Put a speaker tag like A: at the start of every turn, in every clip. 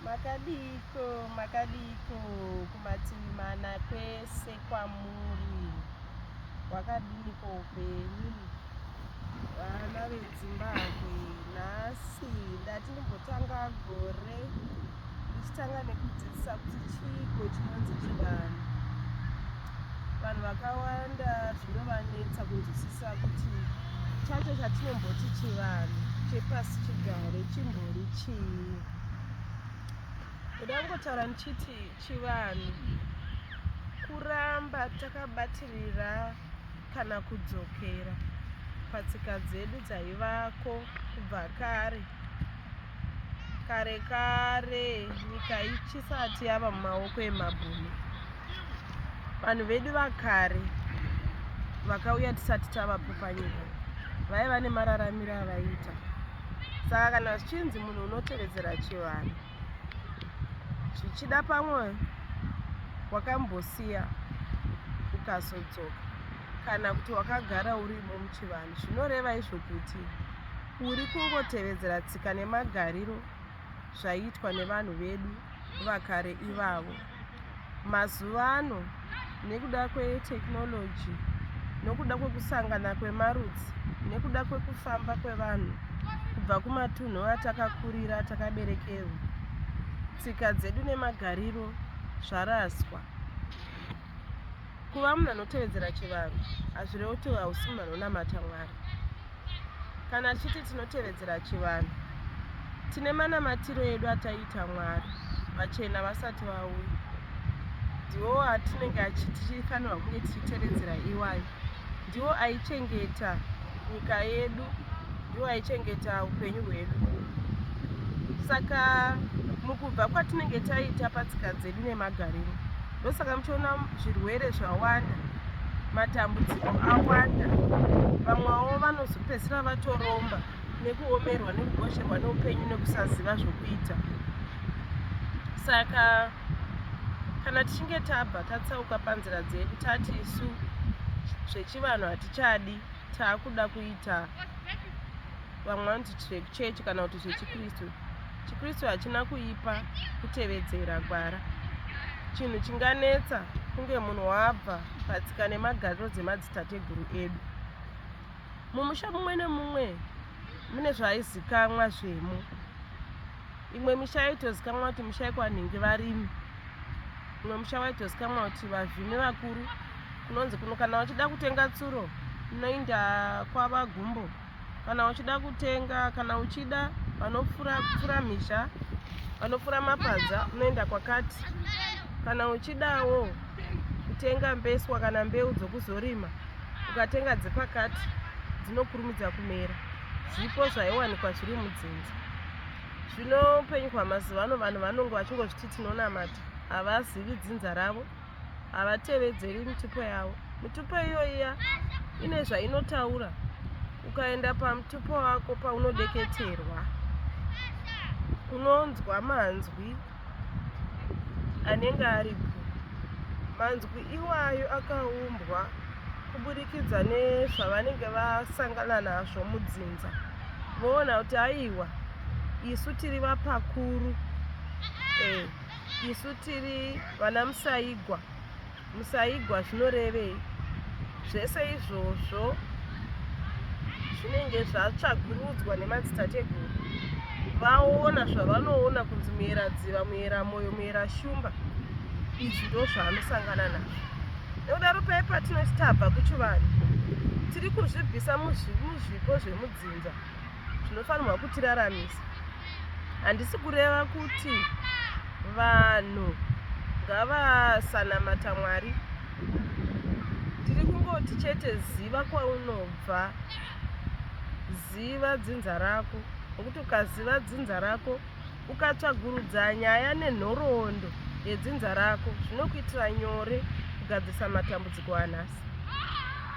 A: Makadiiko makadiiko kumativi mana kwese kwamuri wakadiniko upenyu vana vedzimbabwe nhasi ndati ndimbotanga gore ndichitanga nekudzidzisa kuti chiiko chinonzi chivanhu vanhu vakawanda zvinovanetsa kunzwisisa kuti chacho chatinomboti chivanhu chepasi chigare chimbori chii ndoda kungotaura ndichiti chivanhu kuramba takabatirira kana kudzokera patsika dzedu dzaivako kubva kare kare kare nyika ichisati yava mumaoko emabhunu vanhu vedu vakare vakauya tisati tavapo panyika vaiva nemararamiro avaiita saka kana zvichinzi munhu unotevedzera chivanhu zvichida pamwe wakambosiya ukazodzoka kana kuti wakagara urimo muchivanhu zvinoreva izvo kuti uri kungotevedzera tsika nemagariro zvaiitwa nevanhu vedu vakare ivavo mazuva ano nekuda kwetechnology nokuda kwekusangana kwemarudzi nekuda kwekufamba kwevanhu kubva kumatunhu atakakurira takaberekerwa tsika dzedu nemagariro zvaraswa kuva munhu anotevedzera chivanhu hazvirevo kuti hausi munhu anonamata mwari kana tichiti tinotevedzera chivanhu tine manamatiro edu ataiita mwari vachena vasati vauya ndiwo atinenge achitifanirwa kunge tichitevedzera iwayo ndiwo aichengeta nyika yedu ndiwo aichengeta upenyu hwedu saka mukubva kwatinenge taita patsika dzedu nemagariro ndosaka muchiona zvirwere zvawanda matambudziko awanda vamwewo vanozopedzisira vatoromba nekuomerwa nekugosherwa neupenyu nekusaziva zvokuita saka kana tichinge tabva tatsauka panzira dzedu tati isu zvechivanhu hatichadi taakuda kuita vamwe vanoti zvekuchechi kana kuti zvechikristu chikristu hachina kuipa kutevedzera gwara chinhu chinganetsa kunge munhu wabva patsika nemagariro dzemadzitateguru edu mumusha mumwe nemumwe mune zvaizikamwa zvemo imwe misha yaitozikamwa kuti musha yekwanhingi varimi imwe musha waitozikamwa kuti vavhimi vakuru kunonzi kuno kana wachida kutenga tsuro unoinda kwava gumbo kana wachida kutenga kana uchida vanopfura pfura misha vanopfura mapadza unoenda kwakati kana uchidawo kutenga mbeswa kana mbeu dzokuzorima ukatenga dzepakati dzinokurumidza kumera zvipo zvaiwanikwa zviri mudzinza zvino upenyu kwamazuva ano vanhu vanonge vachingozviti tinonamata havazivi dzinza ravo havatevedzeri mitupo yavo mitupo iyoiya ine zvainotaura ukaenda pamutupo wako paunodeketerwa unonzwa manzwi anenge aripo. Manzwi iwayo akaumbwa kuburikidza nezvavanenge vasangana nazvo mudzinza, voona kuti aiwa isu tiri vapakuru, eh, isu tiri vana musaigwa. Musaigwa zvinorevei? Zvese izvozvo zvinenge zvatsvagurudzwa nemadzitateguru vaona zvavanoona kunzi muera dziva muera moyo muera shumba izvi ndo zvaanosangana nazvo nekudaro paye patinoti tabva kuchivanhu tiri kuzvibvisa muzvipo zvemudzinza zvinofanirwa kutiraramisa handisi kureva kuti vanhu ngavasanamata mwari tiri kungoti chete ziva kwaunobva ziva dzinza rako nokuti ukaziva dzinza rako Ukatsvagurudza nyaya nenhoroondo yedzinza rako zvinokuitira nyore kugadzirisa matambudziko anhasi.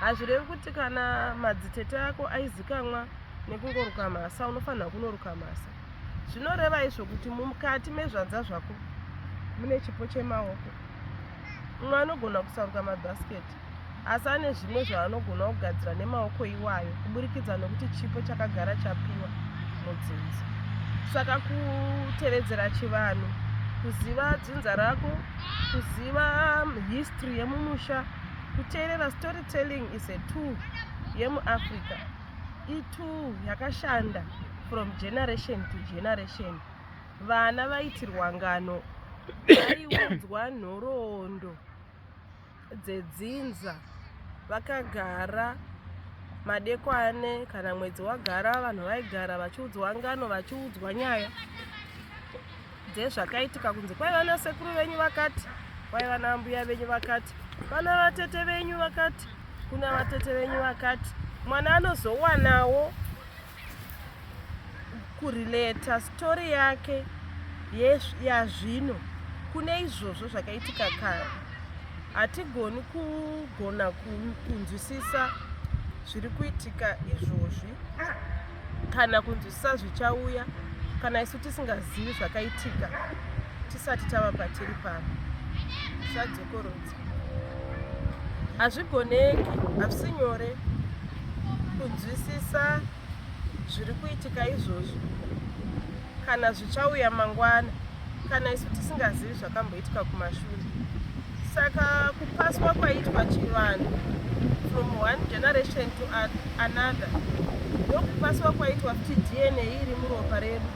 A: Hazvirevi kuti kana madzitete ako aizikamwa nekungoruka mhasa unofanira kunoruka mhasa. Zvinoreva izvo kuti mukati mezvanza zvako mune chipo chemaoko. Mumwe anogona kusaruka mabhasiketi. asi ane zvimwe zvaanogona kugadzira nemaoko iwayo kuburikidza nokuti chipo chakagara chapiwa mudzinza saka kutevedzera chivanhu kuziva dzinza rako kuziva um, history yemumusha kuteerera story telling is a tool yemuafrica itool yakashanda from generation to generation vana vaitirwa ngano vaiudzwa nhoroondo dzedzinza vakagara madekwane kana mwedzi wagara vanhu vaigara vachiudzwa ngano vachiudzwa nyaya dzezvakaitika kunzi kwaiva nasekuru venyu vakati kwaiva naambuya venyu vakati vana vatete venyu vakati kuna vatete venyu vakati mwana anozowanawo kurelata story yake yazvino kune izvozvo zvakaitika kare hatigoni kugona kunzwisisa zviri kuitika izvozvi kana kunzwisisa zvichauya kana isu tisingazivi zvakaitika tisati tava patiri pano zvadzokorodza hazvigoneki hazvisi nyore kunzwisisa zviri kuitika izvozvi kana zvichauya mangwana kana isu tisingazivi zvakamboitika kumashure saka kupaswa kwaitwa chivanhu from one generation to other Another ndokupaswa kwaitwa kuti DNA iri muropa redu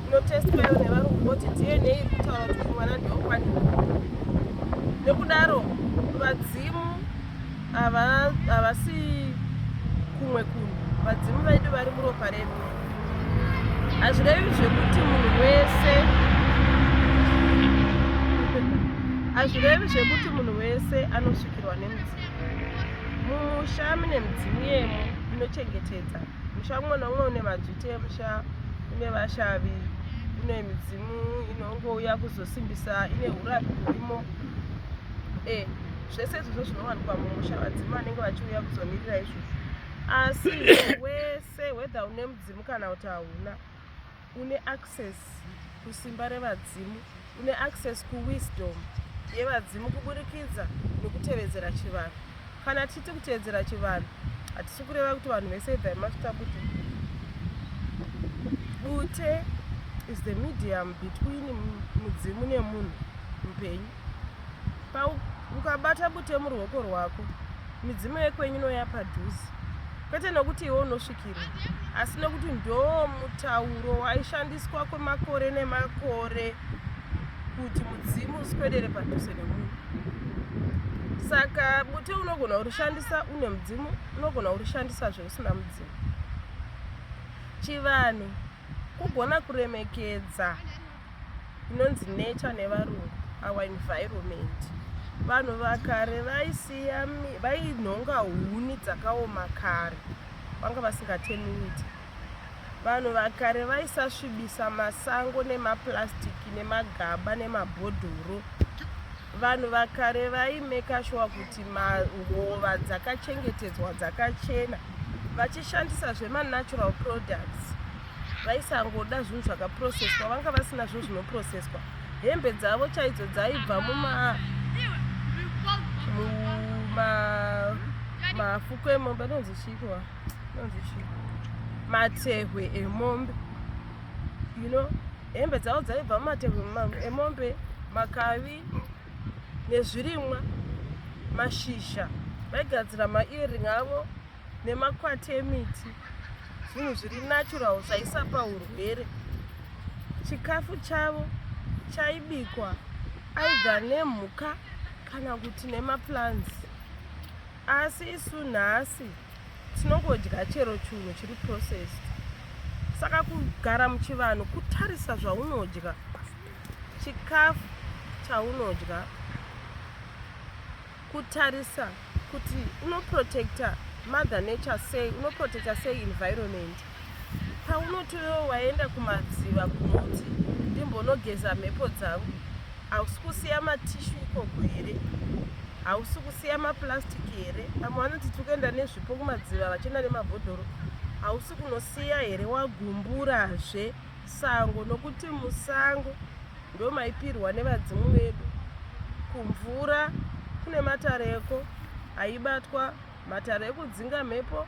A: inotestwayo nevarungu voti DNA iri kutaura kuti mwana ndeokwani nekudaro vadzimu havasi kumwe kunhu vadzimu vedu vari muropa redu hazvirevi zvekuti munhu wese hazvirevi zvekuti munhu wese anosvikirwa nemudzimu mumusha mune midzimu yemo inochengetedza musha umwe noumwe une madzviti emusha une vashavi une midzimu inongouya kuzosimbisa ine urapi urimo e eh, zvese izvozvo zvinowanikwa mumusha vadzimu vanenge vachiuya kuzomirira izvozvo asi wese whether une mudzimu kana kuti hauna une access kusimba revadzimu une access kuwisdom yevadzimu kuburikidza nekutevedzera chivanhu kana tichiti kutevedzera chivanhu hatisi kureva kuti vanhu vese ibvai mafita kuti bute is the medium between mudzimu nemunhu mupenyu ukabata bute muruoko rwako midzimu yekwenyu noya padhuze kwete nokuti iwe unosvikira asi nokuti ndo mutauro waishandiswa kwemakore nemakore kuti mudzimu usikwedere padhuze nemunhu saka bute unogona kurishandisa une mudzimu unogona kurishandisa zveusina mudzimu chivanhu kugona kuremekedza inonzi nature nevarungu our environment vanhu vakare vaisiya vainhonga huni dzakaoma kare vanga vasingatenuiti vanhu vakare vaisasvibisa masango nemaplastiki nemagaba nemabhodhoro vanhu vakare vaimeka shuwa kuti mahova dzakachengetedzwa dzakachena vachishandisa zvemanatural products vaisangoda zvinhu zvakaprocesswa vanga vasina zvinhu zvinoprocesswa hembe dzavo chaidzo dzaibva muma muma mafuko emombe anonzi chiikiwa anonzi chii matehwe emombe you know hembe dzavo dzaibva mumatehwe emombe makavi nezvirimwa mashizha vaigadzira maearing avo nemakwati emiti zvinhu zviri natural zvaisapa urwere chikafu chavo chaibikwa aidha nemhuka kana kuti nemaplants asi isu nhasi tinongodya chero chunhu chiri processed saka kugara muchivanhu kutarisa zvaunodya chikafu chaunodya kutarisa kuti unoprotecta mother nature sei unoprotecta sei environment paunoti wewo waenda kumadziva kunoti ndimbonogeza mhepo dzangu hausi kusiya matishu ikoko here hausi kusiya maplastic here vamwe vanoti tiri kuenda nezvipo kumadziva vachienda nemabhodhoro hausi kunosiya here wagumburazve sango nokuti musango ndomaipirwa nevadzimu vedu kumvura kune matare eko aibatwa matare ekudzinga mhepo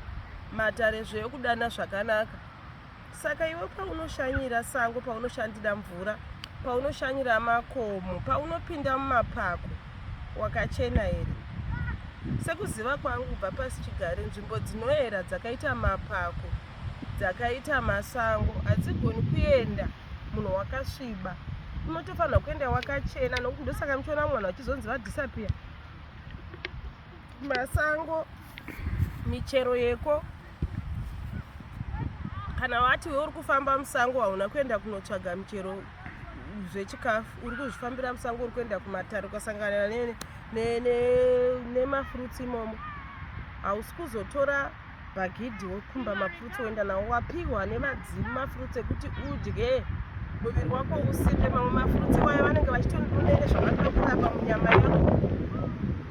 A: matare zveekudana zvakanaka saka iwe paunoshanyira sango paunoshandira mvura paunoshanyira makomo paunopinda mumapako wakachena here sekuziva kwangu kubva pasi chigare nzvimbo dzinoera dzakaita mapako dzakaita masango hadzigoni kuenda munhu wakasviba unotofanirwa kuenda wakachena nokuti ndosaka muchiona mwana vachizonzi vadhisapiya masango michero yeko kana wati we uri kufamba musango hauna kuenda kunotsvaga michero zvechikafu uri kuzvifambira musango uri kuenda kumatare ukasanganira nemafruits imomo hausi kuzotora bhagidhi wokumba mafruits woenda nawo wapihwa nevadzimu mafruits ekuti udye muviri wako usimbe mamwe mafruits wayo vanenge vachitonunene zvavanoda kurapa munyama yako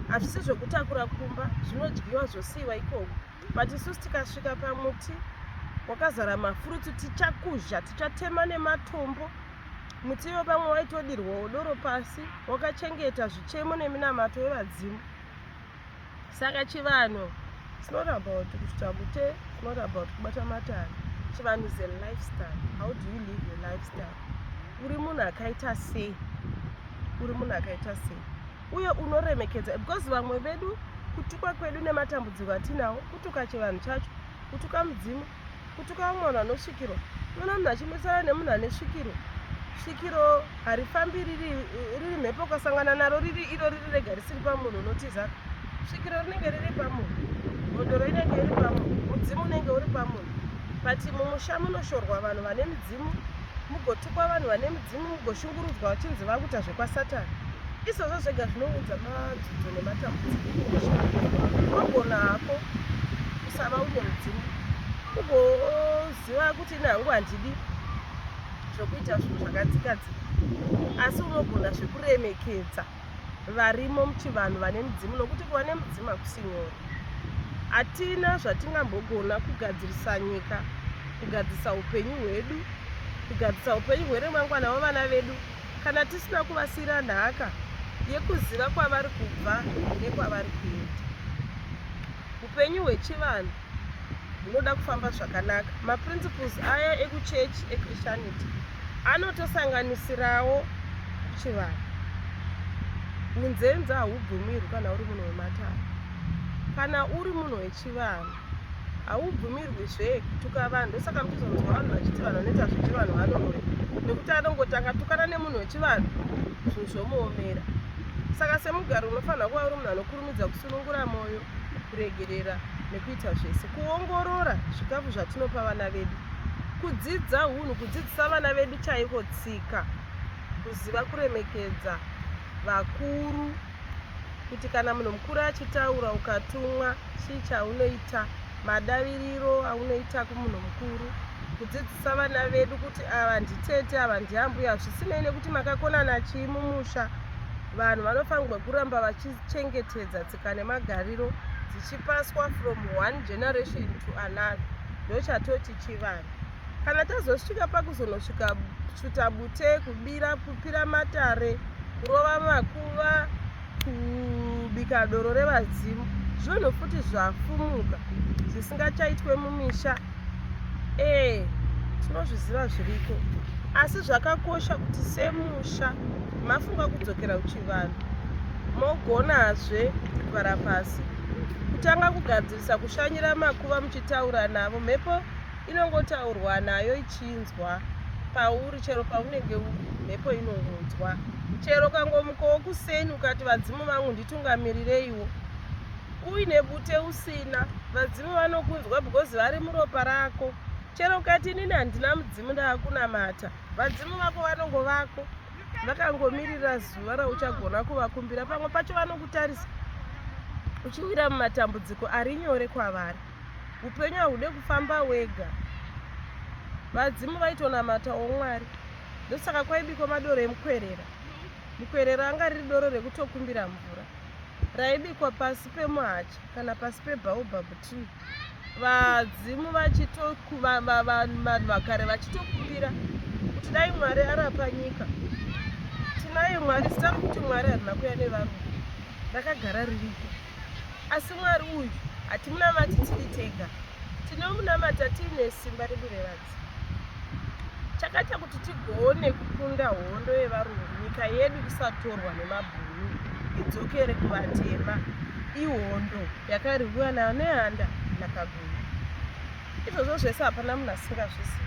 A: hazvisi zvekutakura kumba zvinodyiwa zvosiiwa ikoko but isusu tikasvika pamuti wakazara mafruits tichakuzha tichatema nematombo muti iwo pamwe waitodirwa udoro pasi wakachengeta zvichemo neminamato yevadzimu saka chivanhu it's not about kuti takute it's not about kubata matani chivanhu is a lifestyle how do you live your lifestyle uri munhu akaita sei uri munhu akaita sei uye unoremekedza because vamwe vedu kutukwa kwedu nematambudziko atinawo kutuka chivanhu chacho kutuka mudzimu kutuka vamwe vanhu vanosvikirwa unoona munhu achimwisana nemunhu ane svikiro svikiro harifambi riri riri mhepo ukasangana naro riri iro riri rega risiri pamunhu unotiza svikiro rinenge riri pamunhu mhodoro inenge iri pamunhu mudzimu unenge uri pamunhu but mumusha munoshorwa vanhu vane midzimu mugotukwa vanhu vane mudzimu mugoshungurudzwa vachinzi vakuita zvekwasatani izvozvo zvega zvinounza madzidzo nematambudzikoagona hako kusava une mudzimu ugoziva kuti ini hangu handidi zvokuita zvinhu zvakadzikadzika asi unogona zvekuremekedza varimo muchivanhu vane midzimu nokuti kuva nemudzimu hakusi nyore hatina zvatingambogona kugadzirisa nyika kugadzirisa upenyu hwedu kugadzirisa upenyu hweremangwana wevana vedu kana tisina kuvasiyira nhaka yekuziva kwavari kubva nekwavari kuenda upenyu hwechivanhu hunoda kufamba zvakanaka maprinciples aya ekuchurch echristianity anotosanganisirawo chivanhu unzenza haubvumirwi kana uri munhu wematare kana uri munhu wechivanhu haubvumirwi zve kutuka vanhu ndosaka muchizonzwa vanhu vachiti vanhu vanoita zvechivanhu vanoroya nekuti anongotanga tukana nemunhu wechivanhu zvinhu zvomuomera saka semugari unofanira kuva uri munhu anokurumidza kusunungura mwoyo kuregerera nekuita zvese kuongorora zvikafu zvatinopa vana vedu kudzidza hunhu kudzidzisa vana vedu chaiko tsika kuziva kuremekedza vakuru kuti kana munhu mukuru achitaura ukatumwa chii chaunoita madaviriro aunoita kumunhu mukuru kudzidzisa vana vedu kuti ava nditete ava ndiambuya zvisinei nekuti makakonana chii mumusha vanhu vanofanirwa kuramba vachichengetedza tsika nemagariro dzichipaswa from one generation to another ndochatoti chivanhu kana tazosvika pakuzonosvika tsvuta bute kubira kupira matare kurova makuva kubika doro revadzimu zvinhu futi zvafumuka zvisingachaitwe mumisha ee tinozviziva zviriko asi zvakakosha kuti semusha mafunga kudzokera kuchivanhu mogonazve kugara pasi kutanga kugadzirisa kushanyira makuva muchitaura navo mhepo inongotaurwa nayo ichinzwa pauri chero paunenge uri mhepo inongonzwa chero kangomukowo kuseni ukati vadzimu vangu nditungamirirei uine bute usina vadzimu vanokunzwa because vari muropa rako chero ukati inini handina mudzimu ndaakunamata vadzimu vako vanongo vako vakangomirira zuva rauchagona kuvakumbira pamwe pacho vanokutarisa uchiwira mumatambudziko ari nyore kwavari upenyu hahude kufamba wega vadzimu vaitonamata womwari ndosaka kwaibiko madoro emukwerera mukwerera anga riri doro rekutokumbira mvura raibikwa pasi pemuhacha kana pasi pebaobab tree vadzimu vachitokuvanhu vakare vachitokupira kuti dai mwari arapa nyika tinaye mwari sitari kuti mwari harina kuya nevarungu rakagara ririko asi mwari uyu hatimunamati tiri tega tinomunamata tiine simba redu revadzi chakaita kuti tigone kukunda hondo yevarungu nyika yedu isatorwa nemabhunu idzokere kuvatema ihondo yakarwiwa nayo nehanda nakaguru izvozvo zvese hapana munhu asingazvizivi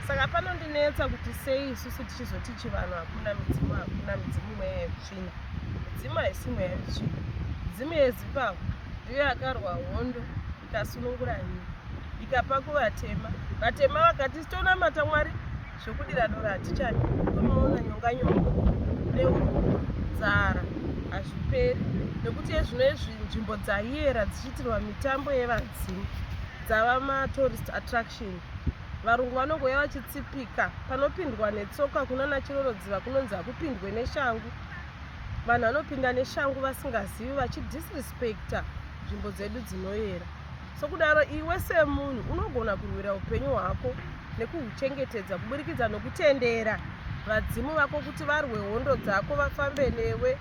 A: saka panondinetsa kuti sei isusu tichizoti chivanhu hakuna midzimu hakuna midzimu mweya yekutsvina midzimu haisi mweya yekutsvina midzimu yezimbabwe ndiyo yakarwa hondo ndikasunungura nyika ndikapa kuvatema vatema vakati sitonamata mwari zvokudira dora hatichadi tomaona nyonganyonga neurombo nzara hazviperi nekuti ezvino izvi nzvimbo dzaiera dzichiitirwa mitambo yevadzimu dzava matourist attraction varungu vanongouya vachitsipika panopindwa netsoka kunana chirorodziva kunonzi hakupindwe neshangu vanhu vanopinda neshangu vasingazivi vachidisrespecta nzvimbo dzedu dzinoyera sokudaro iwe semunhu unogona kurwira upenyu hwako nekuhuchengetedza kuburikidza nokutendera vadzimu vako kuti varwe hondo dzako vafambe newe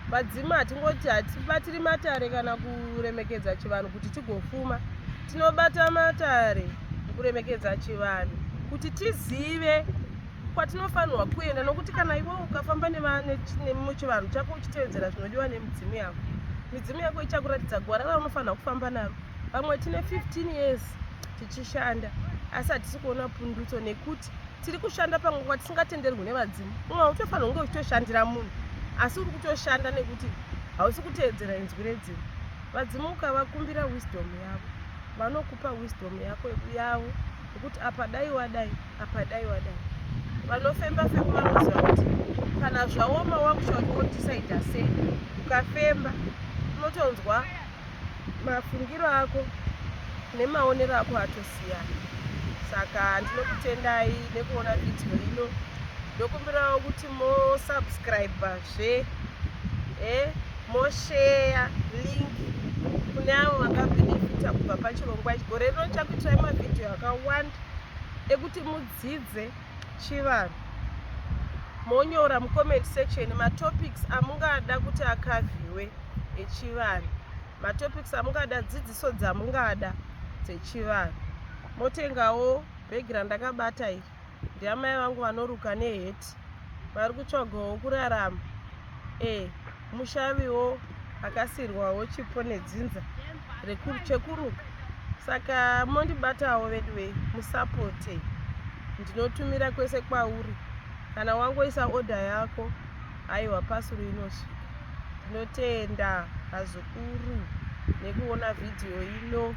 A: vadzimu hatingoti hatibatiri matare kana kuremekedza chivanhu kuti tigofuma tinobata matare kuremekedza chivanhu kuti tizive kwatinofanirwa kuenda nokuti kana iwe ukafamba nemuchivanhu chako uchitevedzera zvinodiwa nemidzimu yako midzimu yako ichakuratidza gwara raunofanira kufamba naro vamwe tine 15 years tichishanda asi hatisi kuona pundutso nekuti tiri kushanda pamwe kwatisingatenderwi nevadzimu umwe utofanira kunge uchitoshandira munhu asi uri kutoshanda nekuti hausi kuteedzera inzwi redzimu vadzimu ukavakumbira wisdom yavo vanokupa wisdom yako yavo yekuti apa dai wadai apa dai wadai vanofemba femba vanoziva kuti kana zvaoma wakushaya kuti wodisaida sei ukafemba unotonzwa mafungiro ako nemaonero ako atosiyana saka ndinokutendai nekuona video ino ndokumbirawo kuti mosubscribe zve e eh, mosheya link kune avo vakabenefita kubva pachirongwa gore rino chakuitirai mavhidhiyo akawanda ekuti mudzidze chivanhu monyora mucomment section matopics amungada kuti akavhiwe echivanhu matopics amungada dzidziso dzamungada dzechivanhu motengawo bhegi randakabata iri ndiamai vangu vanoruka neheti vari kutsvagawo kurarama e mushaviwo akasirwawo chipo nedzinza chekuruka saka mondibatawo veduwe musapote ndinotumira kwese kwauri kana wangoisa oda yako aiwa pasuru inosvika ndinotenda azuka zvikuru nekuona vhidhiyo ino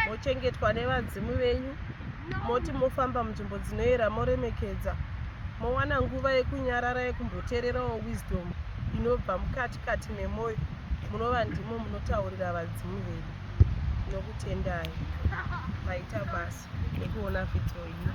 A: mochengetwa nevadzimu venyu moti mofamba munzvimbo dzinoyera moremekedza mowana nguva yekunyarara yekumboteererawo wisdom inobva mukati kati memwoyo munova ndimo munotaurira vadzimu venyu tinokutendai maita basa nekuona vhidhiyo ino